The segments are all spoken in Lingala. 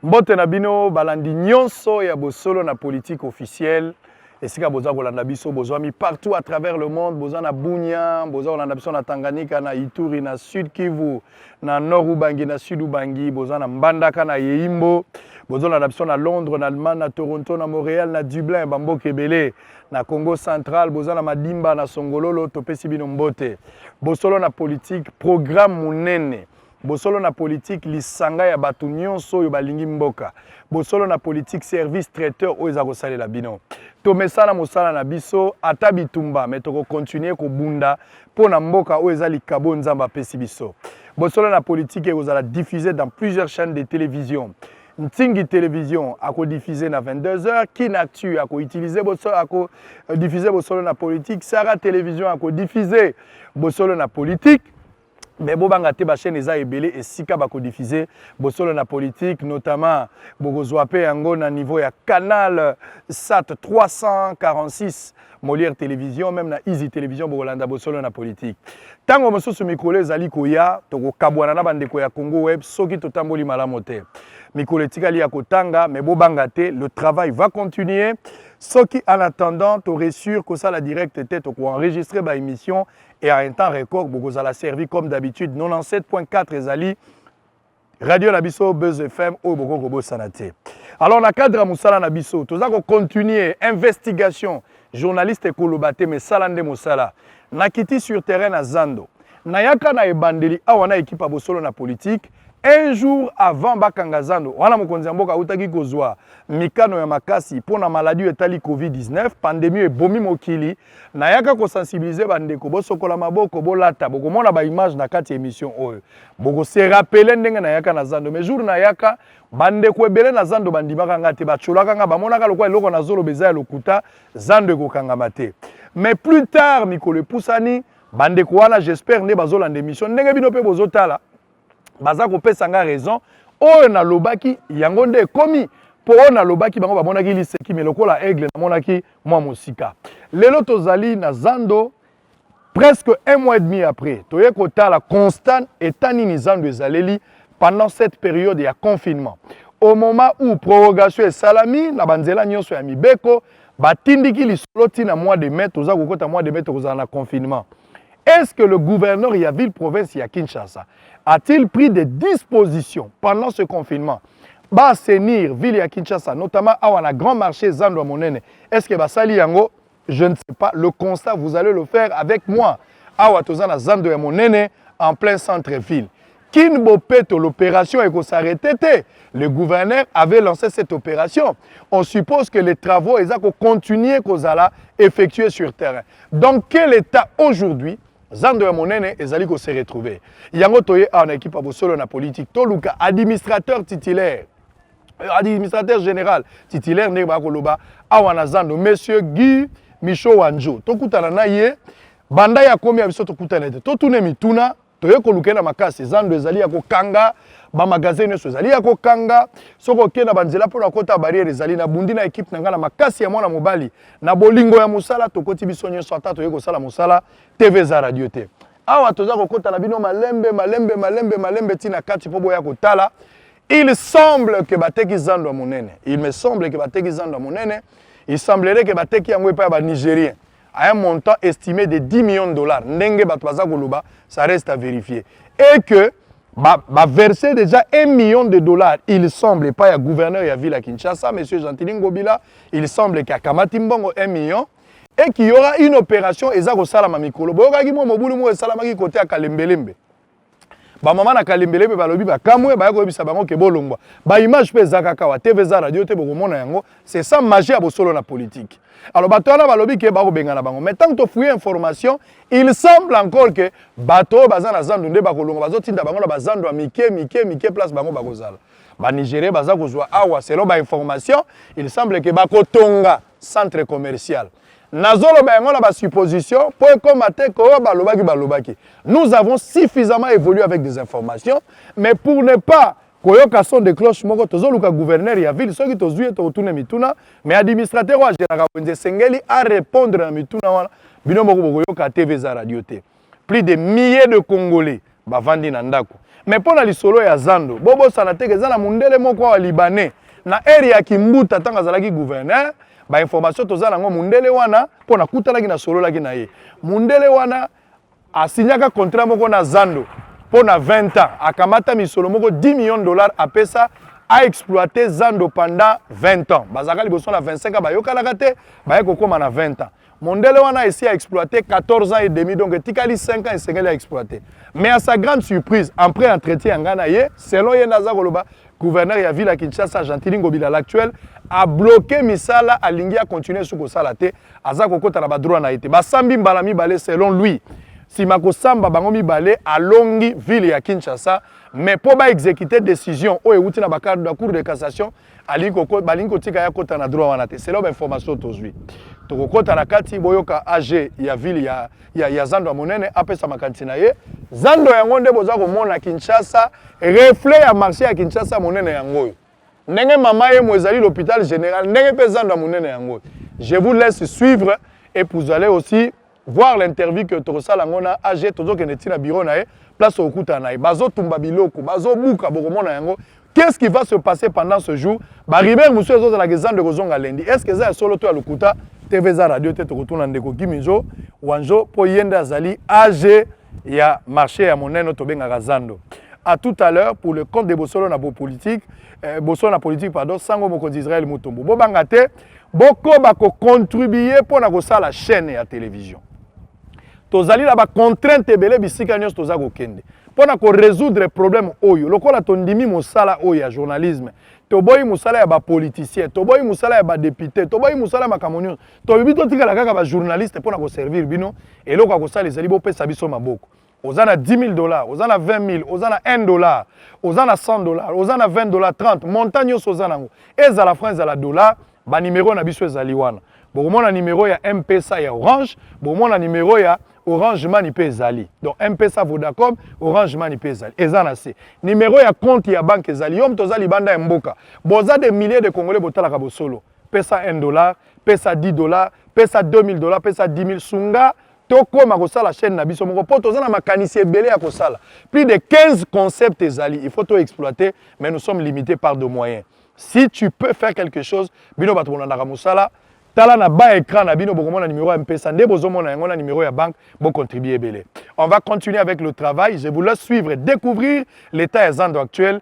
mbote na bino balandi nyonso ya bosolo na politique officielle esika boza kolanda biso bozwami partout à travers le monde boza na bunia boza kolanda biso na tanganyika na ituri na sud kivu na nord ubangi na sud ubangi boza na mbandaka na yeimbo bozolanda biso na londres na allemagne na toronto na montréal na dublin bamboka ebele na congo central boza na madimba na songololo topesi bino mbote bosolo na politike programme monene bosolo na politike lisanga ya bato nyonso oyo balingi mboka bosolo na politike service traiteur oyo eza kosalela bino tomesana mosala na biso ata bitumba me tokokontinue kobunda mpo na mboka oyo eza likabo nzambe apesi biso bosolo na politike ekozala diffuse dans plusieurs chaînes de télévision ntingi télévision akodiffuse na 22 heures kinactu akoutilize bosolo akodiffuse bosolo na politique sara télévision akodiffuse bosolo na politique me bobanga te bachaîne eza ebele esika bakodiffuse bosolo na politique notamment bokozwa mpe yango na niveau ya canal sat 346 Molière Television, meme na Easy Television, bokolanda bosolo na politique. Tango mosusu mikolo ezali koya, tokokabwana na bandeko ya Congo Web soki totamboli malamu te. Mikolo etikali ya kotanga, mais bobanga te, le travail va continuer. Soki en attendant, to réussir kosala direct te, toko enregistrer ba émissions et à un temps record, bokozala servi comme d'habitude. 97.4 ezali radio na biso buzz fm oyo bokoki kobosana te alors na cadre ya mosala na biso toza kocontinue investigation journaliste ekoloba te mesala nde mosala nakiti sur terrain na zando nayaka na ebandeli awa na ekipe ya bosolo na politike un jour avant bakanga zando wana mokonzi ya mboka autaki kozwa mikano ya makasi mpo na maladi oyo etali covid-19 pandemie oyo ebomi mokili nayaka ko sensibiliser ba ndeko bosokola maboko bolata bokomona ba image na kati ya émission oyo boko se rappeler ndenge nayaka na zando mais jour nayaka ba ndeko ebele na zando bandimaka nga te bacolaka nga bamonaka lokola eloko na zolo beza ya lokuta zando ekokangama te mais plus tard mikolo epusani ba ndeko wana j'espère nde bazolanda émission ndenge bino mpe bozotala baza kopesa nga raison oyo nalobaki yango nde ekomi mpo oyo nalobaki bango bamonaki liseki me lokola aigle namonaki mwa mosika lelo tozali na zando presque un mois et demi après toye kotala constat eta nini zando ezaleli pendant cette période ya confinement au moment où prorogation esalami na banzela nyonso ya mibeko batindiki lisolo ntina mois de mai toza kokota mois de mai tokozala na confinement Est-ce que le gouverneur ya ville province ya Kinshasa a-t-il pris des dispositions pendant ce confinement ba assainir ville ya Kinshasa notamment awa na grand marché Zando ya monene est-ce que basali yango je ne sais pas le constat vous allez le faire avec moi awa toza na Zando ya monene en plein centre ville Kin Bopeto, l'opération eko s'arrêter te. Le gouverneur avait lancé cette opération. On suppose que les travaux eza ko continuer kozala effectués sur terrain. Dans quel état aujourd'hui zando ya monene ezali ko se retrouver? Yango toye awa na équipe ya bosolo na politique. Toluka administrateur titulaire euh, administrateur général titulaire ndenge bakoloba awa na zando monsieur Guy Michaud Wanjo tokutana na ye banda ya komi ya biso tokutana te totuna mituna toye koluka na makasi zando ezali ya kokanga bamagasin nyonso ezali ya kokanga soki okei na banzela mpo na kota barriere ezali na bundi na ekipe na ngai na makasi ya mwana mobali na bolingo ya mosala tokoti biso nyonso ata toye kosala mosala tv eza radio te awa toza kokota na bino malembe malembe malembe malembe ntina kati mpo boya kotala il semble ke bateki zando ya monene il me semble ke bateki zando ya monene il semblerait ke bateki yango epai ya banigérien à un montant estimé de 10 millions de dollars ndenge bato baza koloba ça reste à vérifier et que ba, ba verser déjà 1 million de dollars il semble pas ya gouverneur ya ville ya Kinshasa monsieur Gentili Ngobila il semble que akamati mbongo 1 million et qu'il y aura une opération eza kosalama mikolo boyokaki mwa mobulu moko esalamaki kote ya kalembelembe bamama na kalembele mpe balobi bakamwe baya koyebisa bango ke bolongwa baimage mpe eza kaka wa tv eza radio te bokomona yango c'est ça magie ya bosolo na politike alors bato wana balobi ke bakobengana bango mais ntango tofuye information il semble encore ke bato oyo baza na zando nde bakolonga bazotinda bango na bazando ya mike mike mike place bango bakozala banigerien baza kozwa awa selon bainformation il semble ke bakotonga centre commercial nazoloba yango na basupposition mpo ekoma te koyo balobaki balobaki nous avons suffisamment évolué avec des informations mais pour ne pas koyoka son de cloche moko tozoluka gouverneur ya ville soki tozwi ye tokotuna mituna mais administrateur oyo ageraka wenze esengeli arépondre na mituna wana bino moko bokoyoka tv eza radio te plus de milliers de congolais bavandi na ndako mais mpo na lisolo ya zando bobosana teke eza na mondele moko awa libanais na ere ya kimbuta ntango azalaki gouverneur bainformation toza nango mondele wana mpo nakutanaki nasololaki na ye mondele wana asinyaka contrat moko na zando mpo na 20 ans akamata misolo moko 10 million de dollars apesa aexploite zando pendant 20 ans bazalaka liboso na 25 ans bayokanaka te baye kokóma na 20 ans mondele wana esi a exploite 14 ans et demi donc etikali 5 ans esengeli a exploite mais à sa grande surprise après entretien ya ngai na ye selon ye nde aza koloba gouverneur ya ville ya kinshasa gentili ngobila l'actuel abloke misala alingi akontinue su kosala te aza kokɔta na badroit na ye te basambi mbala mibale selon lui nsima kosamba bango mibale alongi ville ya kinshasa mais mpo baexekite décision oyo euti na bacour de cassation balingi kotika ye akota na droit wana te selo bainformation tozwi tokokota na kati boyoka ag ya ville ya, ya, ya zando ya monene apesa makanisi na ye zando yango nde boza komona kinshasa reflet ya marché ya kinshasa monene yango oyo ndenge mama yemo ezali l'hôpital général ndenge mpe zando ya monene yango oyo je vous laisse suivre et vous allez aussi voir l'interview que tokosala yango na age tozokende ti na bureau na ye place okutana na ye bazotumba biloko bazobuka bokomona yango qu'est-ce qui va se passer pendant ce jour baribere mosusu ezozalaka ezando ekozonga lendi est ce que eza ya solo to ya lokuta tv eza radio te tokotuna ndeko giminjo wanjo mpo ye nde azali age ya marché ya monene oyo tobengaka zando à tout à l'heure pour le compte de bosolo na bopolitique eh, bosolo na politique pardon sango mokonzi israel mutombo bobanga te bokoba kocontribue mpo na kosala chaîne ya télévision tozali na bacontrainte ebele bisika nyonso toza kokende mpo na koresoudre problème oyo lokola tondimi mosala oyo ya journalisme toboyi mosala ya bapoliticien toboyi mosala ya badepute toboyi mosala ya makambo nyonso tolobi totikala kaka bajournaliste mpo na koservir bino eloko ya kosala ezali bopesa biso maboko oza na 10 000 dollars oza na 20 000 oza na 1 dollar oza na 100 dollars oza na 20 dollars 30 montant nyonso oza nango ezala franc ezala dollar banimero na biso ezali wana bokomona nimero ya mpesa ya orange bokomona nimero ya orange mani mpe ezali donc mpesa vodacom orange mani mpe ezali eza na se nimero ya compte ya banke ezali yo moto oza libanda ya mboka boza de milliers de congolais botalaka bosolo pesa un dollar, pesa dix dollars, pesa deux mille dollars, pesa dix mille, sunga tokoma kosala chaine na biso moko po toza na makanisi ebele ya kosala. Plus de 15 concepts ezali, il faut to exploiter mais nous sommes limites par de moyens. Si tu peux faire quelque chose, bino bato bolandaka mosala, tala na bas écran na bino bokomona numéro ya mpesa nde bozomona yango na numéro ya banque bocontribue ebele on va continuer avec le travail je vous laisse suivre et découvrir l'état ya zando actuel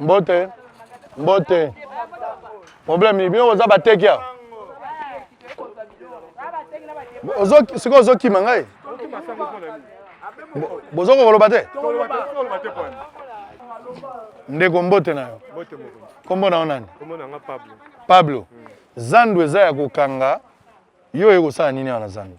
mbote mbote problème nini bino boza bateki awa sikoyo ozokima ngai bozo kokoloba te ndeko mbote na yo nkombo na yo nani pablo zandu eza ya kokanga yo oye kosala nini awa na zandu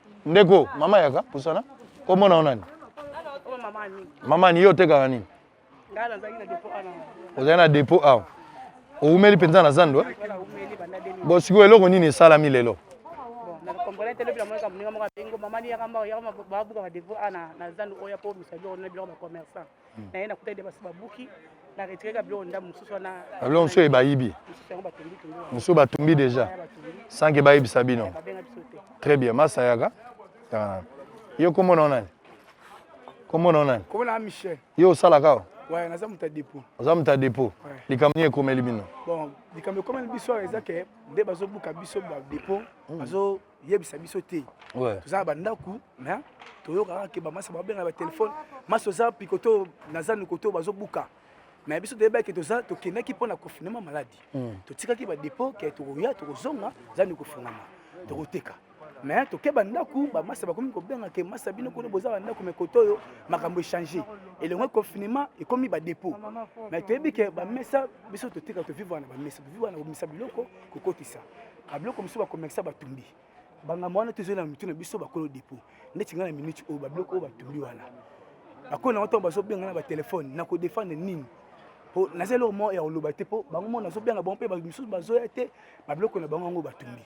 ndeko mama yaka pusana komona yo nani mama ni yo otekaka nini ozali na depot awa owumeli mpenza na zando eh? bo sikoyo eloko nini esalami lelo na ye nakutaki de basi babuki na retireka biloko ndambo mosusu wana biloko mosusu oyo bayibi mosusu batumbi déjà sans ke bayebisa bino très bien masayaka yo komona o nani komona o nani yo osalaka o Ouais, naza muta dépôt. Oza muta dépôt. Likambo nini ekomeli bino? Bon, likambo ekomeli biso eza ke nde bazobuka biso ba dépôt, hmm. bazo yebisa biso te toza na bandako mais toyokaka ke bamasa babenga batelefone masi oza pikoto naza nikoto bazobuka mais biso toyebaki toza tokendaki mpo na confinement maladi hmm. totikaki badepot ke tokoya tokozonga eza nikofungama tokoteka mais toke bandako bamasa bakomi kobenga ke masa bino kuna boza bandako me koto oyo makambo echange elongo confinement ekomi badepot mais toyebi ke bamesa biso toteka tovivre na bamesa tovivre na komisa biloko kokotisa babiloko mosusu bakomekisa batumbi bangambo wana tozali na mitu na biso bakolo depo neti ngai na minute oyo babiloko oyo batumbi wana bakolo nango ntango bazobenga na batelefone na kodefendre nini mpo naza eloko moko ya koloba te mpo bango moko nazobenga bango mpe misusu bazoya te babiloko na bango yango batumbi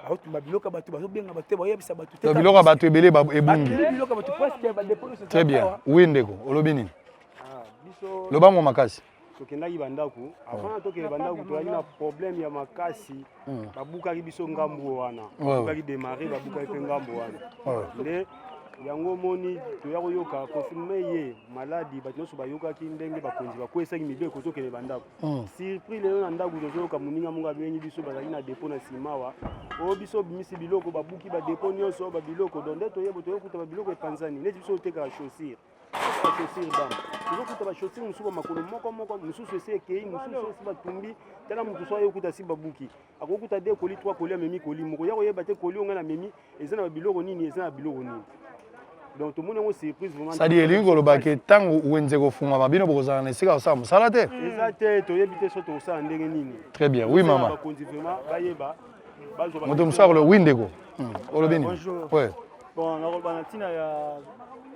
baotumba biloko ya bato bazobenga bato te bayebisa bato te biloko ya bato ebele ebungi biloko ya bato presque badepo très bien oui ndeko olobi nini ah, lobango makasi tokendaki bandako avant tokende bandako toyaki na problème ya makasi hmm. babukaki biso ngambo wana babukaki démarrer babukaki mpe ngambo wana nde yango omoni toya koyoka confirme ye maladi bato nyonso bayokaki ndenge bakonzi bakwesaki mibeko tokende bandako hmm. surpris lelo na ndako tozoyoka moninga moko abengi biso bazalaki na depo na simawa oyo oh, biso obimisi biloko babuki badepo nyonso babiloko don nde toyebo toyokuta babiloko epanzani neti biso otekaka chaussure tozokuta bashosiri mosusu ba makolo moko moko mosusu esi ekei mosusu esi batumbi tala moto so aye okuta asi babuki akokuta de koli twa koli amemi koli moko ya koyeba te koli ongai na memi eza na babiloko nini eza na biloko nini donc tomoni yango surprise vraiment sadi elingi koloba ke ntango wenze kofungwama bino bokozala na esika kosala mosala te eza te toyebi te so tokosala ndenge nini très bien oui mama bakonzi vraiment bayeba moto mosusu akoloba wi ndeko hmm. olobi nini bon nakoloba na ntina ya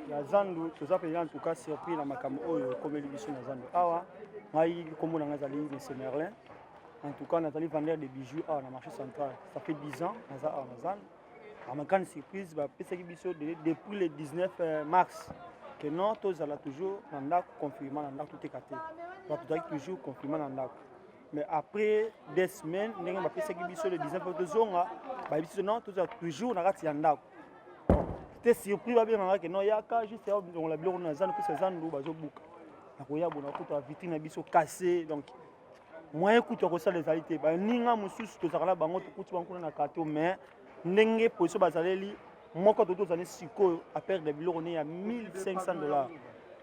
ya zandu toza mpenza ntuka surpris na makambo oyo ekomeli biso na zandu awa ngai nkombo na ngai ezali monsieur merlin en tout cas nazali vendeur de bijoux awa na marché central ça fait 10 ans naza awa na zandu à ma grande surprise bapesaki biso depuis le 19 euh, mars que non tozala toujours na ndako confirma na ndako toteka te bato tozalaki toujours confirma na ndako mais après des semaines ndenge bapesaki biso le 19 mpo tozonga bayebi biso non tozala toujours na kati ya ndako te surpris babengaka ke non yaka juste ya longola biloko na zandu mpesa zandu bazobuka nakoya bona kutu avitri na biso kase donc moyen kutu ya kosala ezali te baninga mosusu tozalaka na bango tokuti bango kuna na kato mais ndenge position bazaleli moko to tozali sikoyo a perdre biloko ne ya 1500 dollars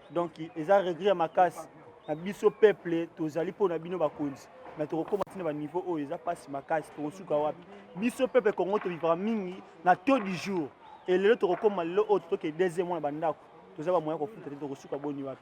donc eza regret ya makasi na biso peuple tozali mpo na bino bakonzi mais tokokoma ntina baniveau oyo eza mpasi makasi tokosuka wapi biso peuple congo tolivaka mingi na taux du jour e lelo tokokoma lelo oyo totoke deuxième wana bandako toza bamoya kofuta te tokosuka boni wapi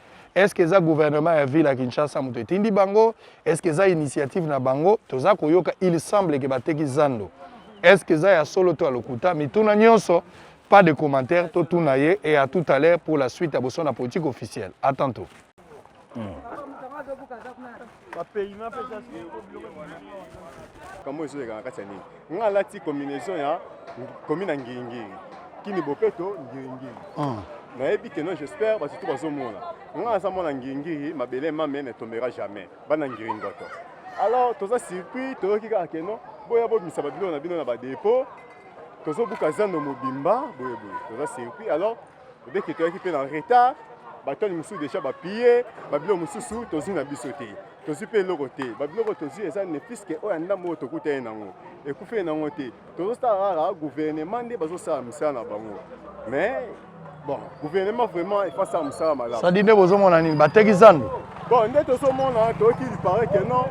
est ce que eza gouvernement ya ville ya kinshasa moto etindi bango est ce que eza initiative na bango toza koyoka il semble ke bateki zando est ce que eza ya solo to ya lokuta mituna nyonso pas de commentaire totuna ye et à tout à l'heure pour la suite ya boso na politique officielle à tantôt hmm. kambo ezoleka na kati ya nini nga alati combinaison ya komina ngiringiri kini bopeto ngiringiri ah. nayebi keno j'espère bato tu bazomona nga naza mwana ngiringiri mabele mame ne tombera jamais bana ngiringoto alors toza surpris toyoki kaka keno boya bobimisa babilo na bino na badepo tozobuka zando mobimba boyeboye toza surpris alors Bebe Keto ayaki mpe na retard, batoni mosusu deja bapiye, babilo mosusu tozwi na biso te, tozwi mpe eloko te. Babiloko tozwi eza ne puiske oyo ya ndambo oyo tokutani nango ekufeli nango te. Tozosala kaka gouvernement nde bazosala mosala na bango mais bon gouvernement vraiment efasala mosala malamu. Sadi nde bozomona nini bateki zando? Bon nde tozomona toyoki il paraît que non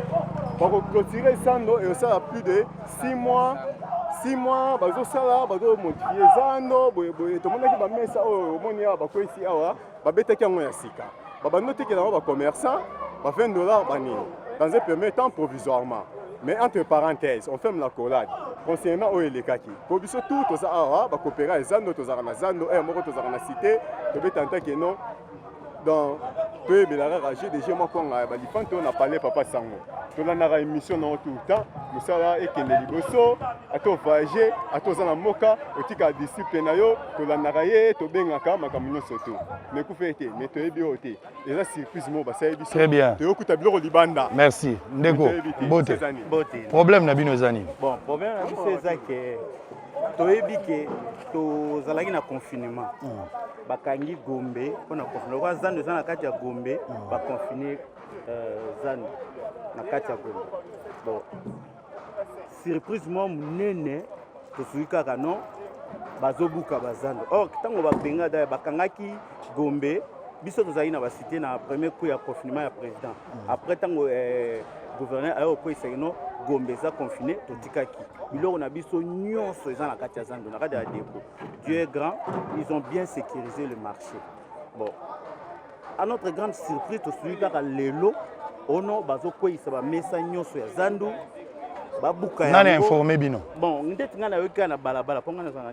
bakoclotire zando ekosala plus de 6 mois 6 mois bazosala bazomodifie zando boyeboye tomonaki bamesa oyo omoni awa bakwesi awa babetaki yango ya sika babandi otekela yango bacommerçant ba 20 dollars banini dans un premier temps provisoirement mais entre parenthèse on ferme la collade concernant oyo elekaki mpo biso tout toza awa bakopera ya zando tozalaka na zando ere moko tozalaka na cité tobeta ntakeno donc toyebela kaka je dege mwa kwanga ya balifan to na palais papa sango tolandaka émission nango tout le temps mosala ekende liboso ata ovoyage ata oza na mboka otika disciple na yo tolandaka ye tobengaka makambo nyonso to mekufa ete me toyebi oyo te eza surprise moko basali biso très bien toyokuta biloko libanda merci ndeko bote problème na bino eza nini bon problème na biso eza ke toyebi ke tozalaki na confinement mm. bakangi gombe mpo na confinement lokola zando eza na kati ya gombe mm. baconfine euh, zando na kati ya gombe bon surprise mwa monene tosuki kaka non bazobuka bazando or ntango babenga daya bakangaki Gombe biso tozalaki na basite na premier coup ya confinement ya président mm. après ntango eh, gouverneur aye okweyisa kino gombe eza confine totikaki biloko na biso nyonso eza na kati ya zando na kati ya depo dieu est grand ils ont bien sécurisé le marché bon à notre grande surprise tosuki kaka lelo ono bazokweyisa bamesa nyonso ya zandu babuka nani informe bino bon ndeti ngai nayoki kaka na balabala mpo ngai nazala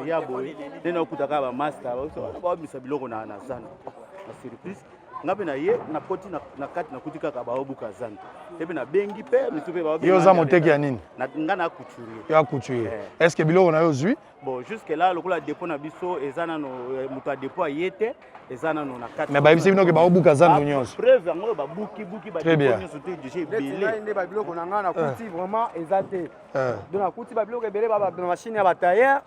ya boye nde naokuta kaka bamasta babimisa biloko na zando na surprise ngai mpe naye nakoti na kati nakuti kaka baobuka zando te mpe nabengi mpe misu mpe yo oza moteki ya nini ngai na couturier yo acouturier eh. est ce que biloko na yo ozwi Bon, jusque là, lokola dépôt na biso eza nano euh, moto ya dépôt aye te eza nano na kati. Mais bayebisi bino ke baobuka zando ah, nyonso. Preuve yango oyo babuki buki ba dépôt nyonso te déjà ebele. Nde ba biloko na ngai nakuti eh. vraiment eza te. Eh. Donc nakuti ba biloko ebele ba ba machine ya ba tailleur.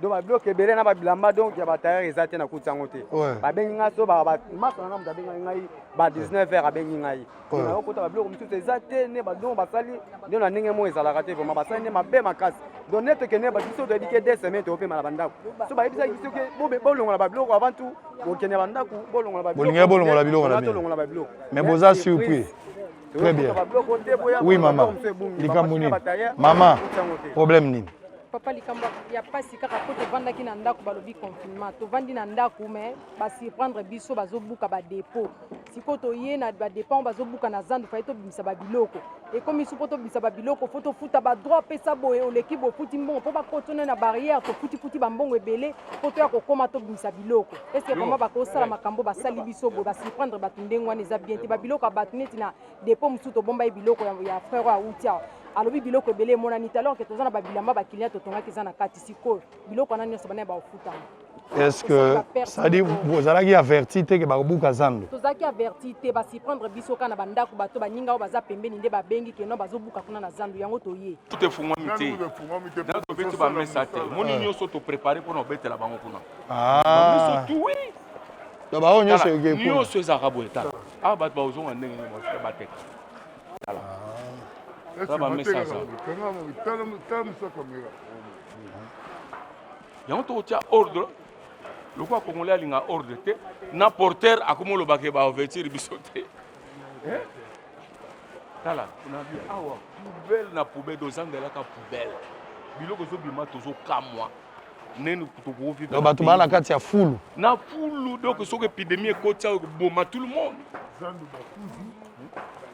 Donc ba biloko ebele na ba bilamba donc ya ba tailleur eza te nakuti yango te. Babengi ngai so ba ba masa na moto abengi ngai ba 19 heures abengi ngai. na okotaka biloko mosusu eza te ne badongo basali nde na ndenge moko ezalaka te vraimen basali nde mabe makasi donc nde tokende biso toyebi ke de semaine tokopema na bandako so bayebisaki biso ke bolongola babiloko avant tout bokende bandako bolongola bolingaki bolongola biloko na tolongola babiloko mais boza surpris très bien oui mama likambo nini mama problème nini papa likambo ya mpasi kaka mpo tovandaki na ndako balobi confinement tovandi na ndako mais basurprendre biso bazobuka badepot sikoyo toye na badepend bazobuka na zandu faye tobimisa babiloko ekomi su mpo tobimisa babiloko fo tofuta badroit apesa boye oleki bofuti mbongo mpo bakotona na barrière tofutifuti bambongo ebele mpo toya kokóma tobimisa biloko eske vraimen bakosala makambo basali biso boye basurprendre bato ndenge wana eza bien te babiloko ya bato neti na depo mosusu tobomba ye biloko ya frere oyo awuti awa alobi biloko ebele emonani te alors ke toza na babilamba bakiliya totongaki eza na kati sikoyo biloko wana nyonso bana ya baofutama est ce que cestadi bozalaki averti te ke bakobuka zando tozalaki averti te basiprendre biso kaka na bandako bato baninga oyo baza pembeni nde babengi keno bazobuka kuna na zando yango toye tefungwami te na tobeti bamesa te moni ah. nyonso toprepare mpona obetela bango kuna ah. donc baoyo nyonso nyonso ezalaka boye tala awa ah, bato bakozonga ndenge nini bateka tala tala bamesa aza yango tokotya ordre lokola congolais alinga ordre te na porter akomi olobake baouverture biso te eh? tala nabi awa poubelle na poubelle tozangelaka poubelle biloko ezobima tozokamwa neni tokokoviva bato baa na kati ya fulu na fulu donc soki epidemie ekoti ayo ekoboma tout le monde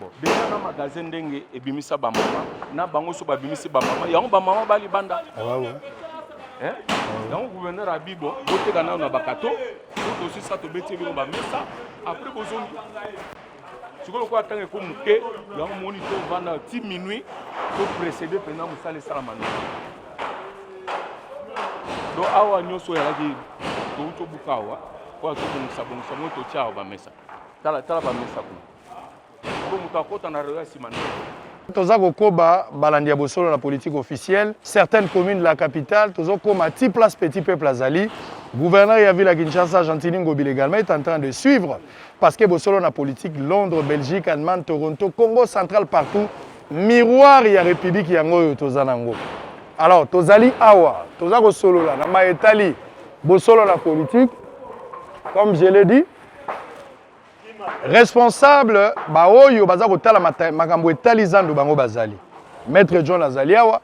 bon deja na magasin ndenge ebimisa bamama na bango so babimisi bamama yango bamama bali banda eh? yango gouverneur abi bon boteka nano na bakato totosisa tobeti bino bamesa apres bozongi sikoyo lokola ntango eko moke yango moni tovanda ti minuit toprésede mpenza mosala esalama nini do awa nyonso oyalaki touti obuka awa oyo tobongisa bongisa ngo totya awa bamesa tala tala bamesa kuna po moto akota na reyo ya nsima nde toza kokoba balandi ya bosolo na politique officielle certaines communes de la capitale tozokoma ti place petit peuple azali gouverneur ya ville ya kinshasa gentini ngobile également est en train de suivre parce que bosolo na politique londres belgique allemagne toronto congo central partout miroir ya république yango oyo toza nango alors tozali awa toza kosolola na maye etali bosolo na politique comme je l'ai dit responsable baoyo baza kotala makambo etali zando bango bazali maître john azali awa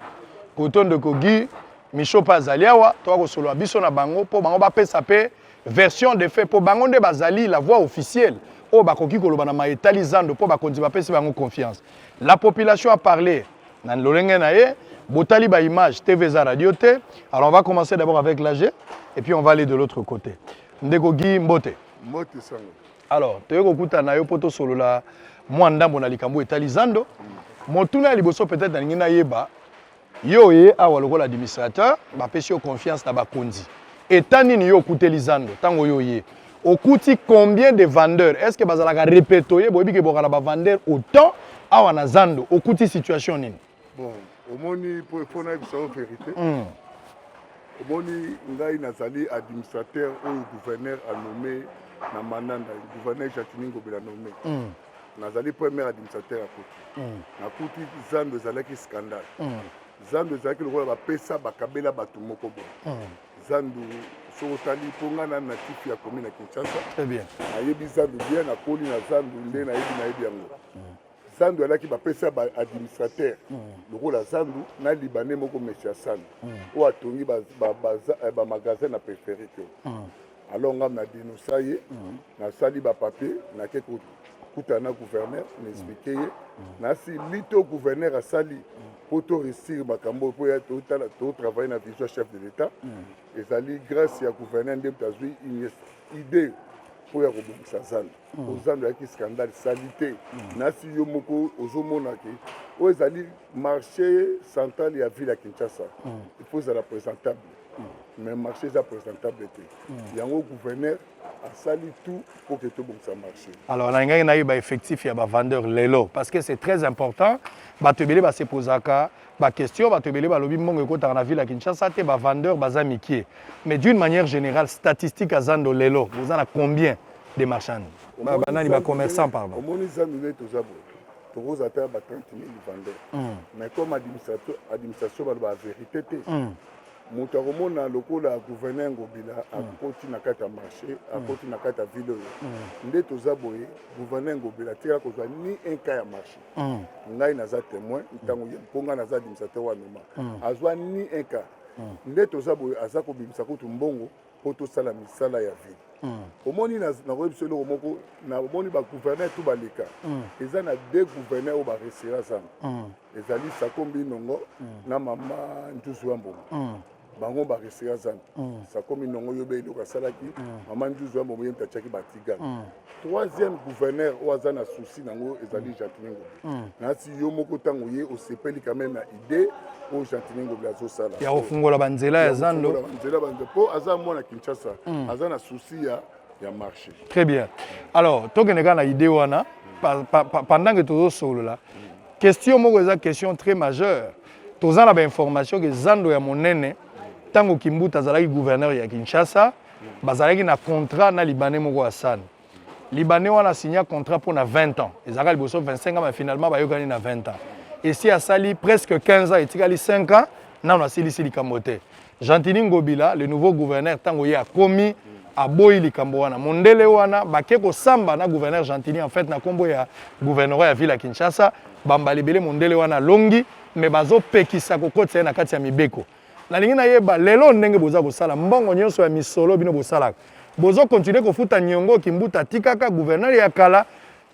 koto ndeko guy micho mpe azali awa toka kosolola biso na bango mpo bango bapesa mpe version de fait mpo bango nde bazali la voix officielle oyo bakoki koloba na maye etali zando mpo bakonzi bapesi bango confiance la population a parle na lolenge na ye botali ba image tv eza radio te alors on va commencer d'abord avec l'age et puis on va aller de l'autre côté ndeko guy mbote mbote sango alors toye kokutana na yo mpo tosolola mwa ndambo na likambo etali zando motuna ya liboso peut-être nalingi nayeba yo oye awa lokola administrateur bapesi yo confiance na bakonzi eta nini yo okuteli zando ntango yo oye okuti combien de vendeurs est ce que bazalaka repetoye boyebi ke bokala bavendeur autant awa na zando okuti situation nini bon omoni mpo mpo nayebisa yo verité mm. omoni ngai nazali administrateur oyo gouverneur anome na manda na gouverneur jacquini ngobela nome mm. nazali premier administrateur ya koti mm. nakuti zando ezalaki scandale mm. zando ezalaki lokola bapesa bakabela bato moko boye mm. zando soki otali mpo ngai na natif ya komi na kinshasa nayebi zando bien nakoli na zando nde nayebi nayebi yango mm. Sandu alaki bapesa ba administrateur lokola Sandu na libanais moko monsieur Sandu oyo atongi ba, ba, ba, eh, ba magasin na peripherie te alors ngai na denosa ye nasali bapapier nake kokutana na gouverneur na explike ye nasi lito gouverneur asali mpo to réussir makambo oyo mpo ya totala totravaille na vision chef de l'état ezali grâce ya gouverneur nde moto azwi idée mpo ya kobongisa zando mm. ozando yaki scandale salite mm. nasi yo moko ozomona ke oyo ezali marché central ya ville ya kinshasa mm. il faut ezala présentable mm. mais marché eza présentable te mm. yango gouverneur asali tout mpo ke tobongisa marché alors nalingaki nayeba effectif ya bavendeur lelo parce que c'est très important bato ebele basepozaka Ba question bato ebele balobi mbongo ekotaka na ville ya Kinshasa te, ba vendeur baza mikie. Mais d'une manière générale, statistique ya zando lelo, boza na combien de marchand? Ba, ba nani ba commerçant pardon. Omoni zando nde toza boye. Tokoza ata ba 30 000 vendeur. Mm. Mais comme administration administration baloba verité te. Mm. moto akomona lokola gouverneur ngobila mm. akoti na kati ya marché mm. akoti na kati ya ville oyo mm. nde toza boye gouverneur ngobila atikala kozwa ni un cas ya marché mm. ngai naza témoin ntango mm. ye mpo ngai naza administrateur wa noma mm. azwa ni un cas mm. nde toza boye aza kobimisa kutu mbongo mpo tosala misala ya ville mm. omoni nakoyebi biso eloko moko omoni bagouverneur to baleka mm. eza na de gouverneur oyo baresera zana mm. ezali sakombi nongo mm. na mama ntuzu ya mbongo mm. bango bareseka zana mm. sakomi nongo yobe eloko asalaki mm. mama nzuzu ya bomoye moto atiaki batigana mm. troisième gouverneur oyo aza na souci nango ezali mm. gentini ngobi mm. nasi yo moko ntango ye osepeli quand même na idée oyo gentini ngobi azosala ya kofungola banzela ya zando banzela banzela mpo aza mwana kinshasa mm. aza na souci ya ya marché très bien alors tokende kaka na idée wana mm. pendant que tozosolola mm. question moko eza question très majeure Toza na ba information ke zando ya monene tango Kimbuta azalaki gouverneur ya Kinshasa bazalaki na contrat na libanais moko Hassan libanais wana signa contrat mpo na 20 ans ezalaka liboso 25 ans mais finalement bayokani na 20 ans esi asali presque 15 ans etikali 5 ans nano asilisi likambo te Gentini Ngobila, le nouveau gouverneur, ntango ye akomi aboyi likambo wana mondele wana bake kosamba na gouverneur Gentini en fait na nkombo ya gouvernorat ya ville ya Kinshasa bambala ebele mondele wana alongi me bazopekisa kokotisa ye na kati ya mibeko nalingi nayeba lelo ndenge boza kosala mbongo nyonso ya misolo bino bosalaka bozo continue kofuta niongo kimbuta atikaka gouverneur ya kala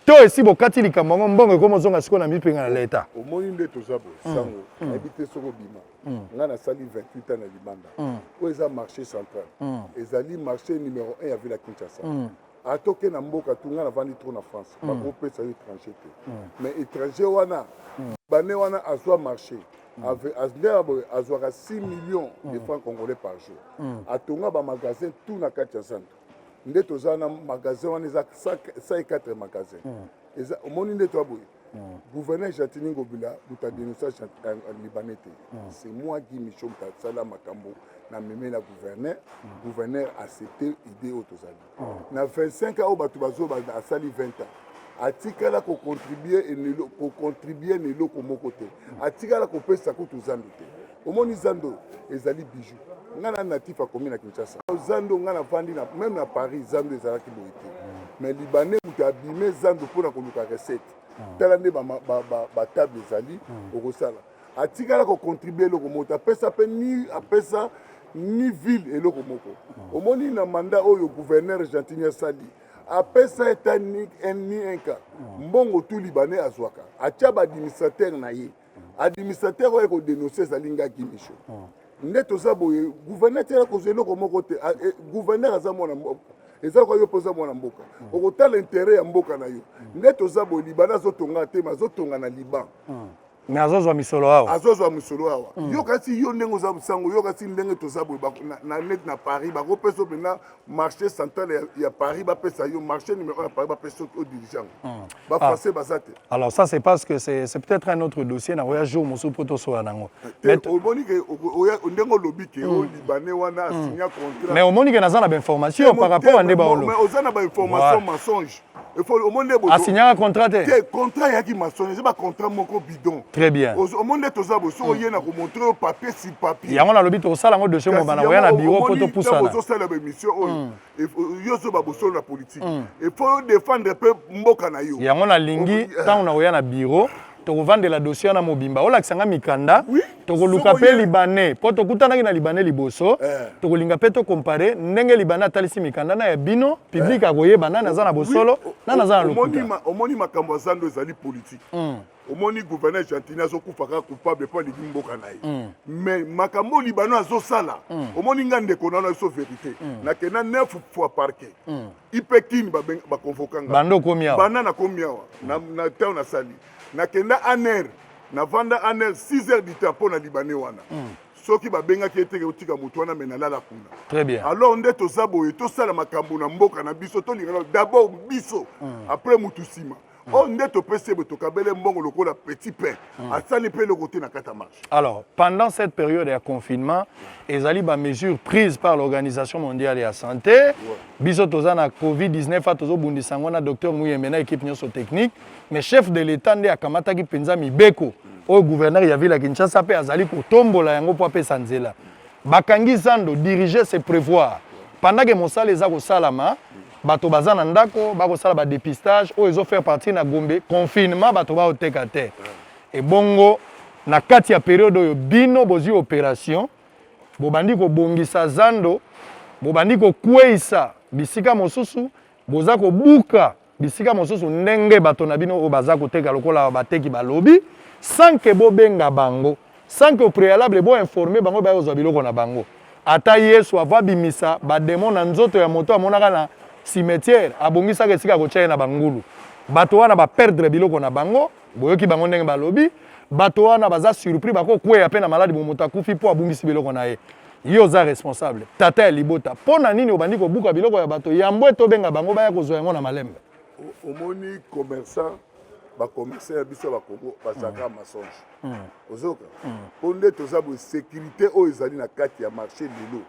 to esi bokati likambo yango mbongo ekomi ozonga sikoyo na mipenga na leta omoni nde toza bosango hmm. hmm. nayebi te soki obima mm. ngai nasali 28 ans na libanda mm. oyo eza marché central mm. ezali marché numéro 1 ya ville ya kinshasa mm. ata oke na mboka tu ngai navandi trop na france mm. bakopesa yo étranger te mm. mais étranger wana mm. bane wana azwa marché ndeyaboye azwaka 6 millions de francs congolais par jour atonga bamagasin tout na kati ya zando nde toza na magasin wana eza 104 magasin omoni nde toya boye Mm. Gouverneur Jatini Ngobila muta denoncer libanais te. Mm. C'est moi Guy Michon muta sala makambo na meme na gouverneur. Mm. Gouverneur accepter idée oyo tozali. Mm. Na 25 ans oyo bato bazo asali 20 ans. atikala kocontribue kocontribue na eloko moko te atikala kopesa kutu zambi te omoni zando ezali bijou ngai na natif akomi na kinshasa zando ngai nafandi na meme na paris zando ezalaki boye te mais libanais moto abime zando mpo na koluka recette hmm. tala nde batable ezali hmm. okosala atikala kocontribue eloko moto apesa mpe ni apesa ni ville eloko moko hmm. omoni na mandat oyo gouverneur gentini asali apesa eta ni enka mbongo tu libanais azwaka atya baadministrateur na ye mm. administrateur oyo eko denoncer ezali nga kimisho hmm. nde toza boye gouverneur tela kozwa eloko moko te ah, eh, gouverneur aza mwana mboka eza lokola yo mpe oza mwana mboka hmm. okotala intere ya mboka na yo hmm. nde toza boye libana azotonga te ma azotonga na liban me azozwa misolo awa azozwa misolo awa mm. yo kasi yo ndenge oza sango yo kasi ndenge toza boye neti na paris bakopesa mpenza marché central ya, ya paris bapesa yo marché numéro ya paris bapesa yo odirigeant mm. bafrançais ah. baza te alors ça c'est parce que c'est peut-être un autre dossier na oya jour mosusu mpo tosola nango omoni ke ndenge olobi ke o hmm. libanais wana hmm. asigna contrat mais omoni ke naza na bainformation par rapport ya nde baolo mais oza na bainformation mensonge asignaka contrat te te contrat eyaki masoni eza bacontrat moko bidon très bien omoni nde toza bo soki oye na komontre yo papier sur papier yango nalobi tokosala yango dossier mobana koya na biro mpo topusana ozosala baémission oyo hmm. yo ozoba bosolo na politike efo hmm. yo défendre mpe mboka na yo yango nalingi ntango eh. nakoya na biro tokovandela dossier wana mobimba olakisa nga mikanda oui. tokoluka mpe libanais mpo tokutanaki na libanais liboso eh. tokolinga mpe tokompare ndenge libanais atalisi mikanda na ya bino publike eh. akoyeba nani aza na bosolo oui. nani aza na lokuta omoni makambo ya zando ezali politike mm. omoni gouverneur gentini azokufa kaka coupable mpo alingi mboka na ye mm. mais makambo libano azosala mm. omoni nga ndeko na wana biso verité mm. nakenda 9 fois parquet mm. ipe kin bakonvoka nga banda okomi awa banda nakomi awa na ntango nasali nakenda aner navanda aner 6 heures du temps mpo na libanais wana hmm. soki babengaki eteke otika moto wana me nalala kuna très bien alors nde toza boye tosala makambo na mboka na biso tolingana d'abord biso hmm. après motu nsima Mm. oyo nde topesi ebe tokabele mbongo lokola petit pain mm. asali mpe eloko te na kati ya marche alors pendant cette période ya confinement ezali bamesure prise par l'organisation mondiale ya santé ouais. biso toza na covid-19 a tozobundisa yango na docteur muyembe na équipe nyonso technique mais chef de l'état nde akamataki mpenza mibeko mm. oyo gouverneur ya ville ya kinshasa mpe azali kotombola yango mpo apesa nzela bakangi zando diriger se prévoir pendant ke mosala eza kosalama bato baza na ndako bakosala badepistage oyo ezo faire partie na gombe confinement bato baoteka te ebongo na kati ya periode oyo bino bozwi operation bobandi kobongisa zando bobandi kokweisa bisika mosusu boza kobuka bisika mosusu ndenge bato na bino oyo baza koteka lokola bateki balobi sans ke bobenga bango Sans que au prealable bo informer bango ba kozwa biloko na bango. Ata Yesu avant abimisa ba demon na nzoto ya moto amonaka na cimetière, abongisaka esika ya kotia ye na bangulu. Bato wana ba perdre biloko na bango, boyoki bango ndenge balobi, bato wana baza surpris bako kweya pe na malade bo moto akufi po abungisi biloko na ye. Yo oza responsable, tata ya libota, po na nini obandi kobuka biloko ya bato yambo ete obenga bango baya kozwa yango na malembe? Omoni commerçant bacommerçant ya biso ya bakongo bazalaka mm. mensonge mm. ozoka mm. mpo nde toza boye sécurité oyo ezali na kati ya marché lelo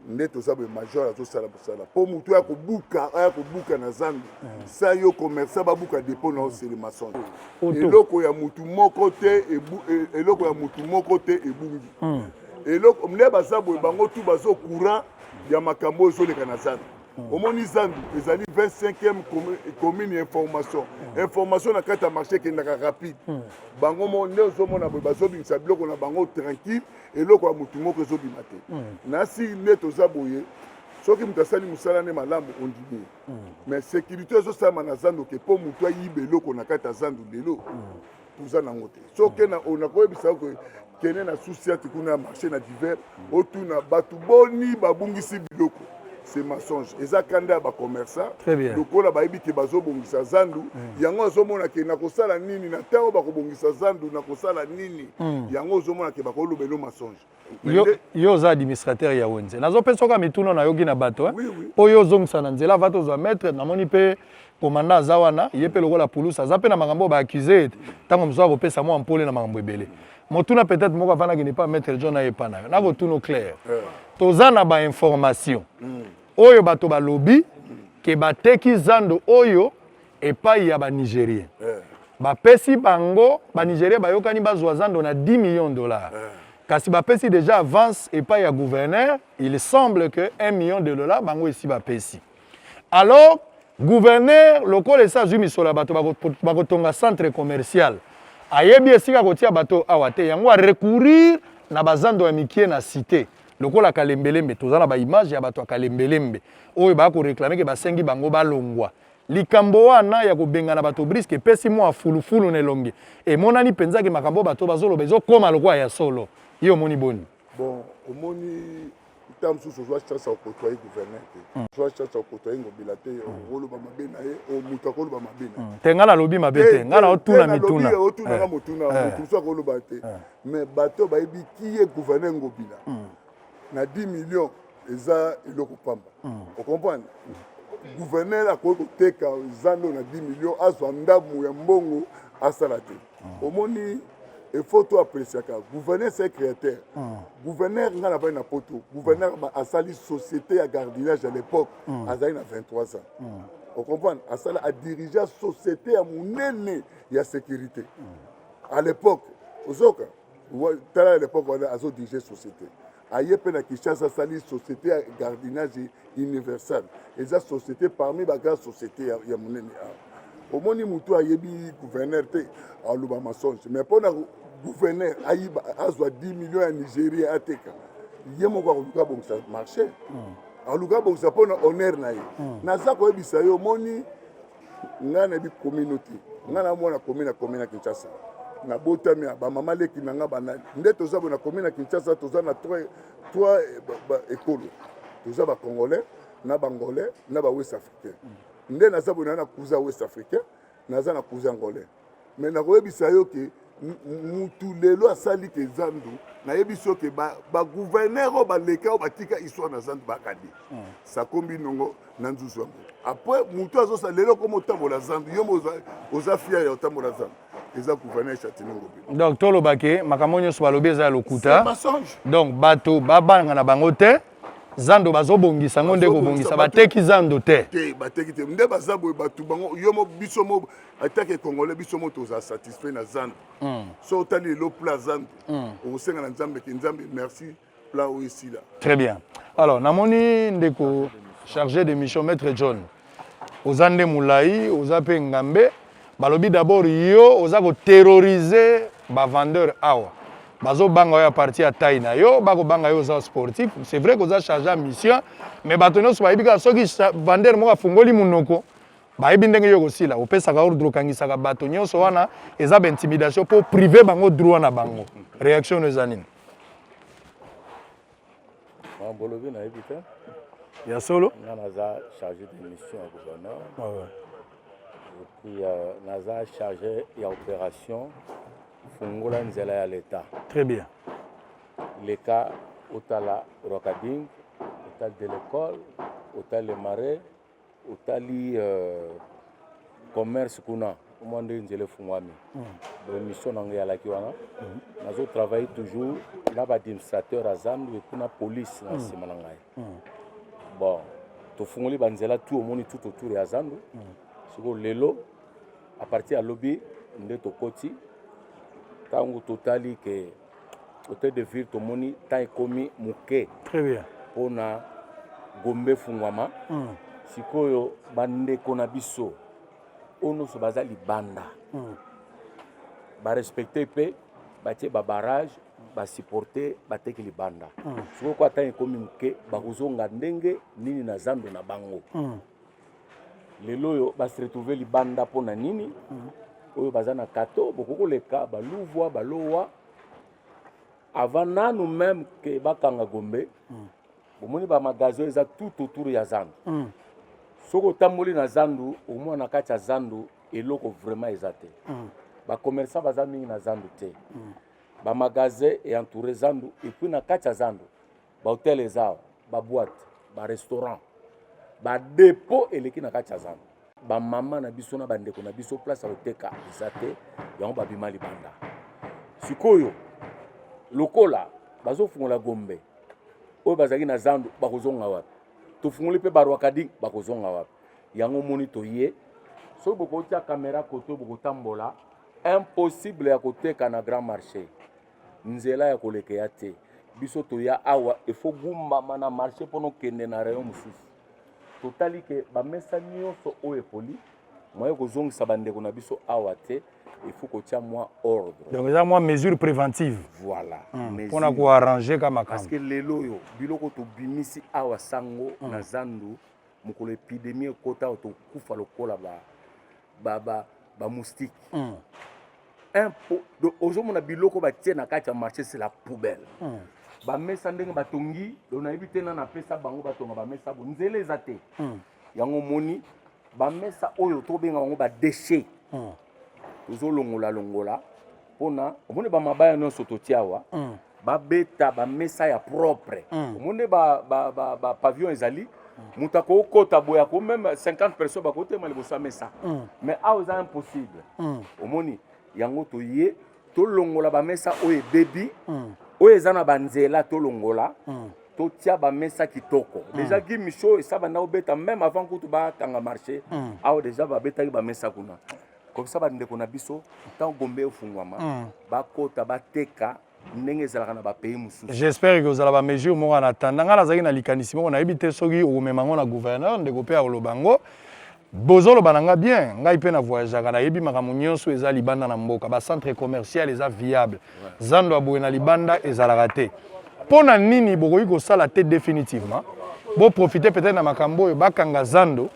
nde toza boye major azosala mosala mpo motu aya kobuka aya kobuka na zambi sa yo commerçant babuka dépôt na osele mensonge eloko ya motu moko te e, eloko ya motu moko te ebungi eloko nde baza boye bango tu bazo courant ya makambo oyo ezoleka na zambi Hmm. omoni zandu ezali 25e commune ya information hmm. information na kati ya marché ekendaka rapide hmm. bango mo nde ozomona boye bazobimisa biloko na bango tranquille eloko ya motu moko ezobima te nasi nde toza boye soki moto asali mosala nde malamu ondimi mais sécurité ezosalama na zandu oke mpo motu ayiba eloko na kati ya zandu lelo mm. toza nango te soki nakoyebisa yo kende na susiati kuna ya marché na divers otuna bato boni babungisi biloko c'est mensonge eza kanda ya bacommerçant lokola bayebi te bazobongisa zandu mm. yango azomona ke nakosala nini na ntango bakobongisa zandu nakosala nini mm. yango ozomona ke bakoloba eno mensonge yo, yo oza administrateur ya wenze nazopesa oka mituna nayoki na bato eh? oui, oui. mpo yo ozongisa na nzela ava tozwa maître namoni mpe komanda aza wana ye mpe lokola pulusa aza mpe na makambo oyo baaccuse ete ntango mosusu akopesa mwa mpole na makambo ebele motuna peut-être moko avandaki nepa maître john aye epa na yo nakotuna claire toza na bainformation mm. oyo bato balobi ke bateki zando oyo epai ya banigerien eh. bapesi bango banigerien bayokani bazwa zando na 10 millions de dollars eh. kasi bapesi déjà avance epai ya gouverneur il semble que 1 million de dollars bango esi bapesi alors gouverneur lokola esi azwi misolo ya bato bakotonga centre commercial ayebi esika kotia bato awa te yango arecourir na bazando ya mikie na cité lokola kalembelembe toza na baimage ya bato ya kalembelembe oyo baya koreklame ke basengi bango balongwa Likambo wana ya kobengana bato briske epesi mwa fulufulu na elongi. Emonani mpenza ke makambo oyo bato bazoloba ezokoma lokola ya solo. Yo omoni boni? Bon, omoni ntango mosusu ozwa chance ya kokotoye gouverneur te hmm. ozwa chance ya kokotoye ngobila te hmm. oloba mabe na ye o moto akoloba mabe na ye hmm. te ngai nalobi mabe te ngai naotuna mituna otunaka eh. motuna eh. moto mosusu akoloba te eh. mais bato bayebi kiye gouverneur ngobila na 10 millions eza eloko pamba mm. ocomprendre gouverneur akoki koteka zando na 10 million azwa ndambo ya mbongo asala te mm. omoni efo to apreciaka gouverneur se créateur mm. gouverneur ngai nabali na poto gouverneur asali société ya gardinage à l'époque azali na 23 ans ocomprendre asala adirigea société ya monene ya sécurité à l'époque ozoka tala à l'époque wana azodirige société aye mpe na kinshasa asali société ya gardinage universal eza société parmi bagrande société ya, ya monene awa omoni motu ayebi gouverneur te aloba masonge mais mpo na gouverneur ayiba azwa 10 million ya nigérien ateka ye moko akoluka abongisa marché hmm. aluka abongisa mpo na honneur na ye hmm. naza koyebisa yo omoni ngai nayebi komino te ngai na mwana komi na komi na kinshasa nabotami ya bamama leki na ngai banani nde toza bo na komi na kinshasa toza na trois ekolo toza bacongolais na bangolais na bawest africain nde naza bo na kuza west africain naza na kuza angolais mais nakoyebisa yo ke mutu lelo asali ke zandu nayebisi yo ke bagouverneur oyo baleka oyo batika histoire na zandu bakadi hmm. sakombi nongo na nzuzu yango après mutu azosa lelo koma otambola zandu yo mo oza fier ya otambola zandu eza gouverneur chatiningo donc toloba ke makambo nyonso balobi eza ya lokuta donc bato babanga na bango te zando bazobongisa yango nde kobongisa bateki zando te te bateki te nde baza boye bato bango yo biso atake congolais biso mo tozala satisfait na zando mm. so otali lelo pla zando mm. okosenga na nzambe ke nzambe merci pla oyo esila très bien alors namoni ndeko chargé de mission maître john oza nde molai oza mpe ngambe balobi d'abord yo oza koterrorize bavendeur awa bazobanga yo ya parti ya tai na yo bakobanga yo oza sportif c'est vrai koza charge ya mission mais bato nyonso bayebi kaka soki vendeur moko afungoli monoko bayebi ndenge yo ekosila opesaka ordre okangisaka bato nyonso wana eza baintimidation mpo prive bango droit na bango réaction no eza nini bolobi nayebi te ya solo nga naza chargé de mission ya gouverneur ah epuis euh, naza chargé ya opération fungola nzela ya l'état très bien leka otala rocading otali de l'école otali le marais otali euh, commerce kuna omwa nde nzela efungwami hmm. donc mission na ngai yalaki wana hmm. nazo travaille toujours na baadministrateur ya zandu epuis na police na hmm. nsima na ngai bon tofungoli banzela tu omoni tout autour ya zandu sikoyo lelo apartir ya lobi nde tokoti ntango totali ke Hotel de ville tomoni temps ekomi moke Très bien. mpo na gombe efungwama Mm. sikoyo bandeko na biso oyo nyonso baza libanda Mm. barespecte mpe batie babarage basupporte bateki libanda Mm. sikoyo kwa ntango ekomi moke bakozonga ndenge nini na zando na bango Mm. lelo oyo ba se retrouver libanda mpo na nini mhm. oyo baza na kato bokoki koleka baluvwa balowa avant nanu meme ke bakanga gombe mhm. bomoni ba magasin eza tout autour ya zandu mhm. soki otamboli na zandu omona na kati ya zandu eloko vraiment eza te bacommerçant baza mingi na zandu te bamagasin e entoure zandu epuis na kati ya zandu ba hotel eza awa ba boite ba restaurant ba depot eleki na kati ya zando bamama na biso na bandeko na biso place ya koteka eza te yango babima libanda sikoyo lokola bazofungola gombe oyo bazalaki na zando bakozonga wapi tofungoli mpe barwakadi bakozonga wapi yango omoni toye soki bokotya kamera koto bokotambola impossible ya koteka na grand marché nzela ya koleka ya te biso toya awa efo gumbama na marché mpo nokende na rayon mosusu totali ke bamesa nyonso oyo epoli moye kozongisa bandeko na biso awa te il faut kotia mwa ordre donc eza mwa mesure préventive voilà hmm. mpona hmm. koarrange ka makambo parce que lelo oyo biloko tobimisi awa sango hmm. na zandu mokolo epidemie ekota oyo tokufa lokola ba ba ba ba moustique mm. un po donc ozomona biloko batie na kati ya marché c'est la poubelle mm. bamesa ndenge batongi donc nayebi te nani apesa bango batonga bamesa bo nzela eza te mm. yango omoni bamesa oyo tobenga bango badeshe mm. tozolongola longola, longola. pona omoni ba mabaya nyonso totia awa mm. babeta bamesa ya propre mm. omoni ba, ba, ba, ba pavillon ezali moto akokota boye ako meme 50 personnes bakotema liboso ya mesa mm. mais awa eza impossible mm. omoni yango toye tolongola bamesa oyo ebebi mm. oyo eza na banzela tolongola mm. totia bamesa kitoko mm. deja gi miso esabanda obeta meme avant kutu bakanga marché mm. awa deja babetaki bamesa kuna komisa bandeko na biso ntango gombe efungwama hmm. bakota bateka ndenge ezalaka na bapays mosusu j'espère que ozala bamesure moko ana tanda ngai nazalaki na likanisi moko nayebi te soki okomema yango na gouverneur ndeko mpe akoloba yango bozoloba na ngai bien ngai mpe na voyageaka nayebi makambo nyonso eza libanda na mboka bacentre commercial eza viable zando ya boye na libanda ezalaka te mpo na nini bokoki kosala te définitivement boprofite peut-être na makambo oyo bakanga zando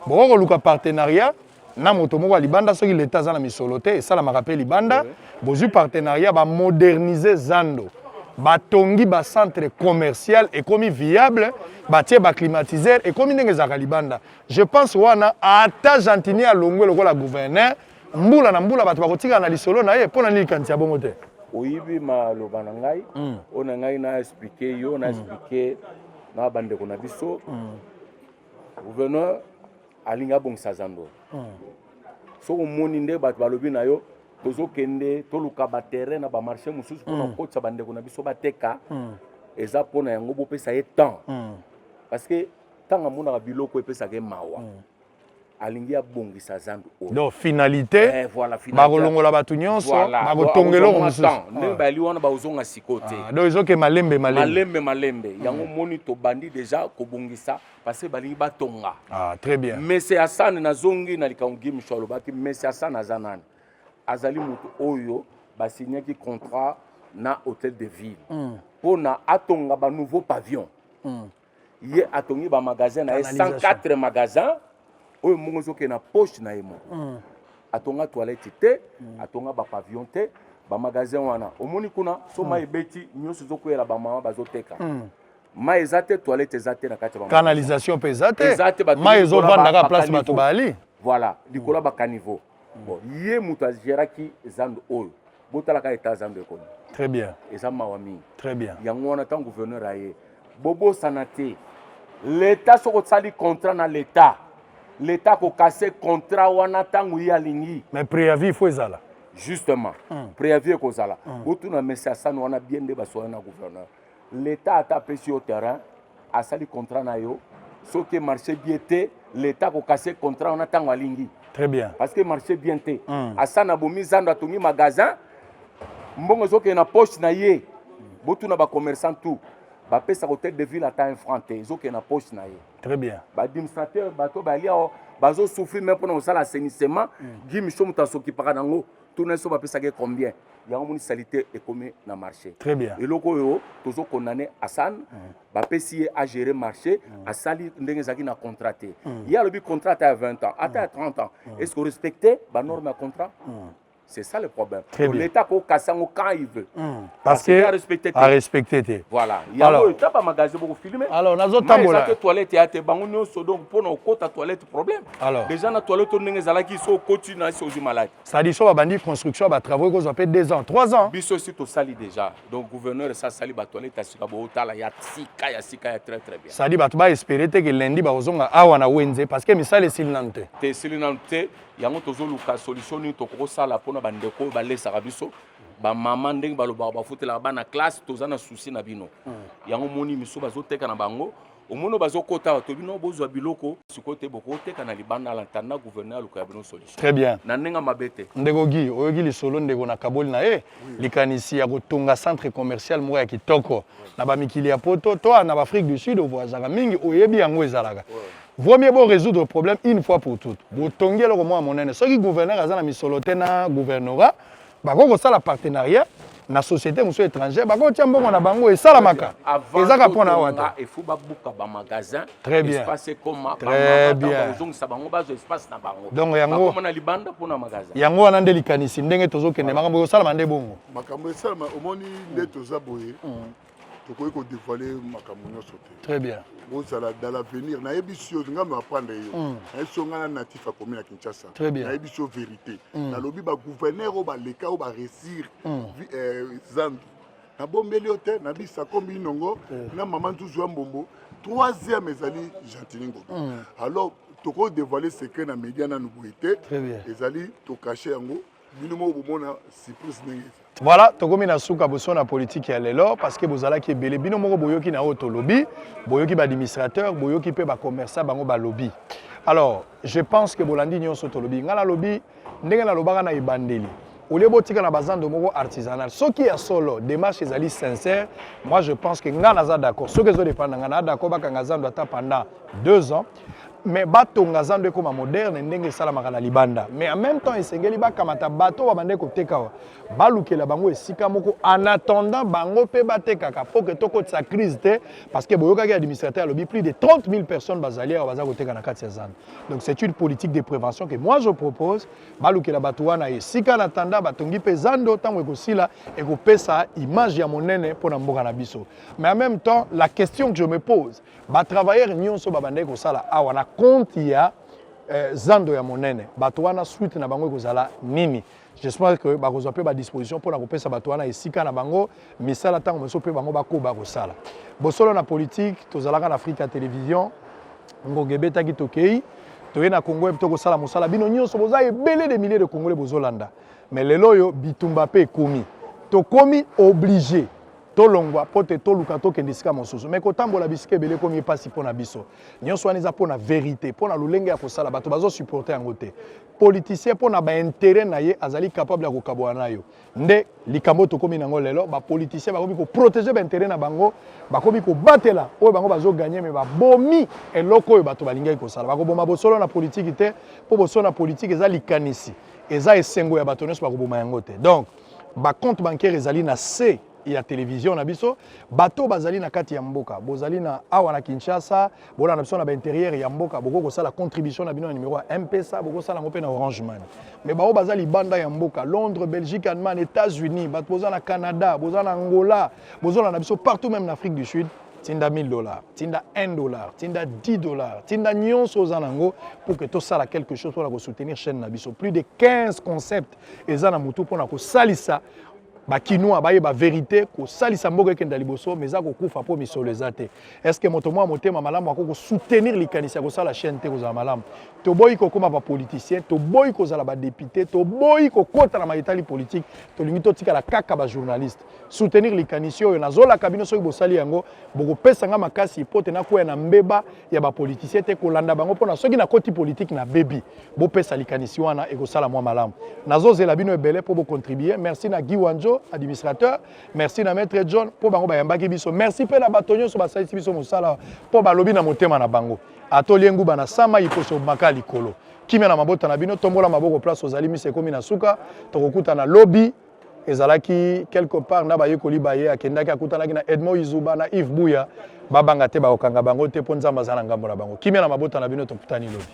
bokoki koluka partenariat na moto moko ya libanda soki leta aza na misolo te esalamaka mpe libanda bozwi partenariat bamodernise zando batongi bacentre commercial ekomi viable batie baclimatiseur ekomi ndenge ezalaka libanda je pense wana ata gentini alongwe lokola gouverneur mbula na mbula bato bakotikala na lisolo na ye mpo na nini likanisi ya bongo te oyibi maloba na ngai hmm. oyo na ngai na explike yo na explike na bandeko na biso hmm. gouverneur alingi abongisa zando hmm. soki omoni nde bato balobi na yo tozokende toluka baterrain na bamarché mosusu mpona kokotisa hmm. bandeko na biso bateka hmm. eza mpona yango bopesa ye temps parce que ntango amonaka biloko epesaka ye mawa alingi abongisa zambi oyo donc finalité eh, voilà, bakolongola bato nyonso voilà, bakotonga eloko mosusu ndenge ah. bayali wana bakozonga siko te ah, donc ezoke malembe malembe malembe malembe yango omoni tobandi deja kobongisa parce que balingi batonga ah, très bien mese asane nazongi na likambo gi micho alobaki mese asane aza nani azali moto oyo basignaki contrat na hôtel de ville hmm. mpo na atonga banouveau pavillon hmm. ye atongi bamagasin na ye 104 magasin oyo mongo ezokende na poche na ye moko hmm. atonga toilette te atonga bapavillon te bamagasin wana omoni kuna so mai ebeti nyonso ezokweyela bamama bazoteka mai eza te toilette eza te na kati ya canalisation mpe eza te eza te bato mai ezo vanda kaka place bato bali voilà likolo ya ba caniveau bon ye moto ageraki zando oyo botalaka eta zando ekomi très bien eza mawa mingi très bien yango wana ntango gouverneur aye bobosana te leta soki osali contrat na leta leta akokase contrat wana ntango ye alingi mais préavis faut ezala justement mm. préavis ekozala mm. botuna mesi asani wana bien nde basola na gouverneur L'etat ata apesi yo terrain asali contrat na yo soki marché bien te l'etat akokase contrat wana ntango alingi très bien parce que marché bien te mm. asa na bomi zando atongi magasin mbongo ezokende na poche na ye botuna bacommerçant tout bapesa hotel de ville ata un franc te ezokende na poche na ye très bien baadministrateur bato balia bazosouffrir me mpona kosala assainissement mm. gi micho moto asokipaka nango tuna biso bapesaka ye combien yango moni salite ekomi na marché très bien eloko oyo tozo condamne asan mm. bapesi ye agere marché mm. asali ndenge ezalaki na contrat te mm. ye alobi contrat ata ya 20 ans ata ya 30 ans est ce que respecte banorme ya contrat C'est ça le problème. L'État ko kassango quand il veut. Hmm. Parce, que a respecté. A respecté te. Voilà. Il y a alors, tapa magasin beaucoup filmé. Alors nazo tambola. Parce que toilette ya te bango nyoso donc pour na kota toilette problème. Alors. Déjà na toilette ndenge ezalaki so okoti na esi ozwi malade. Sadi so babandi construction ba travaux ekozwa mpe 2 ans 3 ans. Biso esi tosali déjà donc gouverneur esi asali ba toilette ya sika bootala ya sika ya sika ya très très bien. Sadi bato ba espere te ke lundi bakozonga awa na wenze parce que misala esili nanu te. Te esili nanu te yango tozoluka solution nini tokoki kosala mpo na bandeko oyo balesaka biso bamama ndenge balobaka bafutelaka bana classe toza na souci na bino hmm. yango moni misu bazoteka na bango omono bazokota bato bino bozwa biloko sikoyo te bokoteka na libanda la ntanda gouverneur aluka ya bino solution très bien na ndenge mabe te ndeko gi oyoki lisolo ndeko na kaboli na ye likanisi ya kotonga centre commercial moko ya kitoko na bamikili ya poto to na baafrique du sud ovoyazaka mingi oyebi yango ezalaka vaut mieux bo résoudre problème une fois pour toute botongi eloko mwa monene soki gouverneur aza na misolo te na gouvernorat bakoki kosala partenariat na société mosusu étrangère bakoki kotia mbongo na bango esalamaka ezaka mpo na wata efo babuka bamagasin très bien espace ekoma très bien ozongisa bango bazwa espace na bango donc yango bakoma na libanda mpo na magasin yango wana nde likanisi ndenge tozokende makambo ekosalama nde bongo makambo esalama omoni nde toza boye mm. tokoki ko dévoiler makambo nyonso te très bien bozala dans l'avenir nayebi sio nga me apprendre yo hmm. nayebi sio nga na natif akomi na kinshasa nayebi sio vérité hmm. nalobi bagouverneur oyo baleka oyo baresir hmm. eh, zambi nabombeli yo te na bisa kombi inongo eh. na mama nzuzu ya mbombo troisième ezali gentini ngobi alors tokoki dévoiler secret na média nanu boye te ezali tokache yango bino moko bomona surprise ndenge eza voilà tokomi na suka boso na politiki ya lelo parce que bozalaki ebele bino moko boyoki na oyo tolobi boyoki baadministrateur boyoki mpe bacommerçant bango balobi alors je pense que bolandi nyonso tolobi ngai nalobi ndenge nalobaka na ebandeli olie botika na bazando moko artisanal soki ya solo démarche ezali sincère moi je pense que ngai naza d'accord soki ezodépendre na ngai naa d'accord bakanga zando ata pendant deux ans mais batonga zando ekoma moderne ndenge esalamaka na libanda mais en même temps esengeli bakamata bato babandaki koteka awa balukela bango esika moko en attendant bango mpe batekaka mpo ke tokotisa crise te parce que boyokaki administrateur alobi plus de 30 000 personnes bazali awa baza koteka na kati ya zando donc c'est une politique de prévention que moi je propose balukela bato wana esika na tanda batongi mpe zando ntango ekosila ekopesa image ya monene mpo na mboka na biso mais en même temps la question que je me pose Ba travailleurs nyonso babandaki kosala awa na compte ya eh, zando ya monene. Bato wana suite na bango ekozala nini? J'espère que bakozwa mpe ba disposition mpo na kopesa bato wana esika na bango misala ntango mosusu mpe bango bakoba kosala. Bosolo na politique tozalaka na Afrika Television ngonga ebetaki tokei toye na Congo to kosala mosala bino nyonso boza ebele de milliers de Congolais bozolanda mais lelo oyo bitumba mpe ekomi tokomi oblige tolongwa mpo te toluka tokende esika mosusu mai kotambola bisika ebele ekomi mpasi mpo na biso nyonso wana eza mpo na verité mpo na lolenge ya kosala bato bazosupporte yango te politicien mpo na baintere na ye azali capable ya kokabola na yo nde likambo oyo tokómi nango lelo bapoliticien bakomi koprotege baintere na bango bakomi kobatela oyo bango bazoganye me babomi eloko oyo bato balingaki kosala bakoboma bosolo na politiki te mpo bosolo na politiki eza likanisi eza esengo ya bato nyonso bakoboma yango te donc ba compte bancaire ezali na se ya televizio na biso bato bazali na kati ya mboka bozali na awa na kinshasa bolanda biso na bainterieur ya mboka bokoki kosala contribution na bino na nimero ya mpesa bokosala yango mpe na orange money mai baoyo baza libanda ya mboka londres belgique allemagne états-unis bato boza na canada boza na angola bozolanda biso partout même na afrique du sud tinda 1000 dollars tinda 1 dollar tinda 10 dollars tinda nyonso oza na yango pour que tosala quelque chose mpona kosoutenir chaîne na biso plus de 15 concept eza na motu mpona kosalisa bakinois bayeba verite kosalisa mboka ekenda liboso mais eza kokufa mpo misolo eza te estce moto mwa motema malamu akoki kosoutenir likanisi ya kosala chaîne te kozala malamu toboyi kokóma bapoliticien toboyi kozala badepute toboyi kokota na mayetali politike tolingi totikala kaka bajournaliste soutenir likanisi oyo nazolaka bino soki bosali yango bokopesa nga makasi mpo te nakwea na mbeba ya bapolitisien te kolanda bango mpona soki nakoti politike na bebi bopesa likanisi wana ekosala mwa malamu nazozela bino ebele mpo bocontribue merci na guy wanjo administrateur merci na maître john mpo bango bayambaki biso merci mpe na bato nyonso basalisi biso mosala mpo balobi na motema na bango atolie nguba na sama iposo maka likolo kimia na mabota na bino tombola maboko place ozali misa ekomi na suka tokokutana lobi ezalaki quelque part na bayekoli baye akendaki akutanaki na edmond izuba na yves buya babanga te bakokanga bango te mpo nzambe aza na ngambo na bango kimia na mabota na bino tokutani lobi